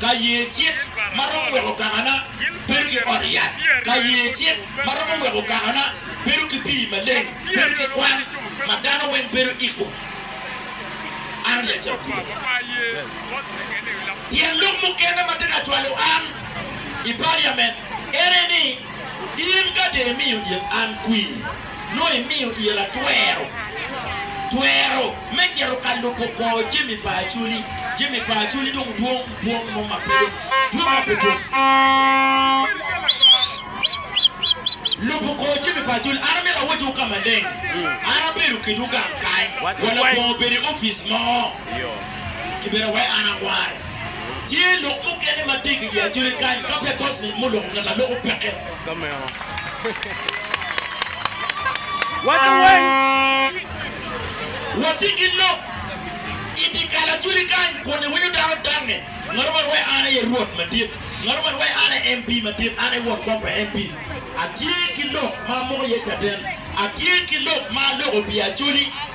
ka ye cik ma romo weko kakana bedo ki ot yat, ka ye cik ma romo weko kakana bedo ki pii maleng, bedo ki kwan ma dano weng bedo equal. An ati ka cito kulu. Tyen lok mukene ma ti ka cwalo an i paliament ene ni, In ka dee imiyo it an kwir, nongo imiyo ira twero, twero me cito ka lubo kwo jami pa Acoli. Jami pa Acoli dong dwong, dwong mo ma pe dong dwong ma pe dwong. Lubo kwo jami pa Acoli. An amito awottiwu ka maleng. An abedo kedwu gang kany, wa labongo obedo i opic mo, kibedo awaye an akware. Tye lok mukene ma tye ki i Acoli kany, ka pe bossman mo oloko ngat ma loko peke. Ka meno, waco weny. Watye ki lok i dye kalacwili kany kun iwinyo dano dangnge, Ngato man wai an aye Rwot madit, Ngato man wai an aye MP madit, an aye won kom pa MPs. Atye ki lok ma amoko iye caden, Atye ki lok ma aloko pi acholi.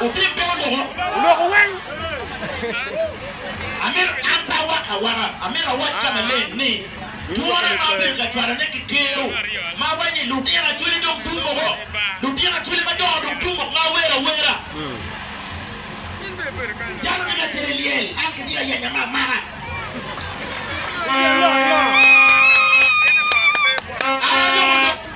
Otit bene omoko. Oloko weng. Amito, an pe awak awaka, amito awac ka maleng ni, twone ma abedo ka cwalone ki kero ma awaco ni lutino acwali dong tum moko, lutino acwali madongo dong tum mok ma awero awera. Dano tye ka cito i lyel, an kitye ka yanya me amaka. An aloko lok.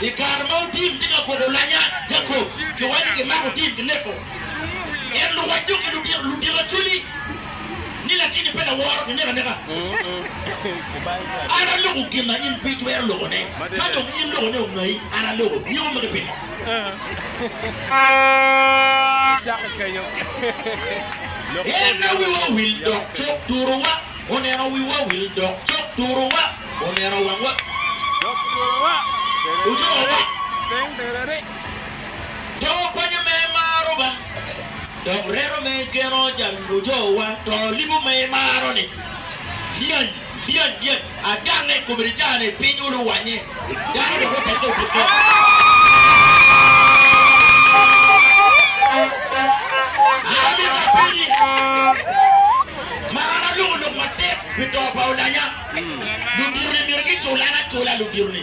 I kare ma otim tye ka kobo lanya Jacob ki wanyi ki mako otim ki neko en luwacco ki ludito acwali ni latini pe laworo ki neko aneka an aloko gin ma in pe itwero loko ne ka dong in loko ne ongayi an aloko nyiko magi pingo en na wiwa owil dok cok turu wa. Oneno wiwa wil dok cok turowa, oneno wangwa dok twowa, ocowa piny derere. To kwanya me maro ba, dok reto me geno jal ocowa, to libo me maro ni, Lyany, lyany, lyany, adange, kome ni caa ni piny oluwanye. Dano dok ote kong ki kit. An abika pinyi, ma an aloko lok matek pi to pa olanya. Ludito-ni myero gicul an acula ludito-ni.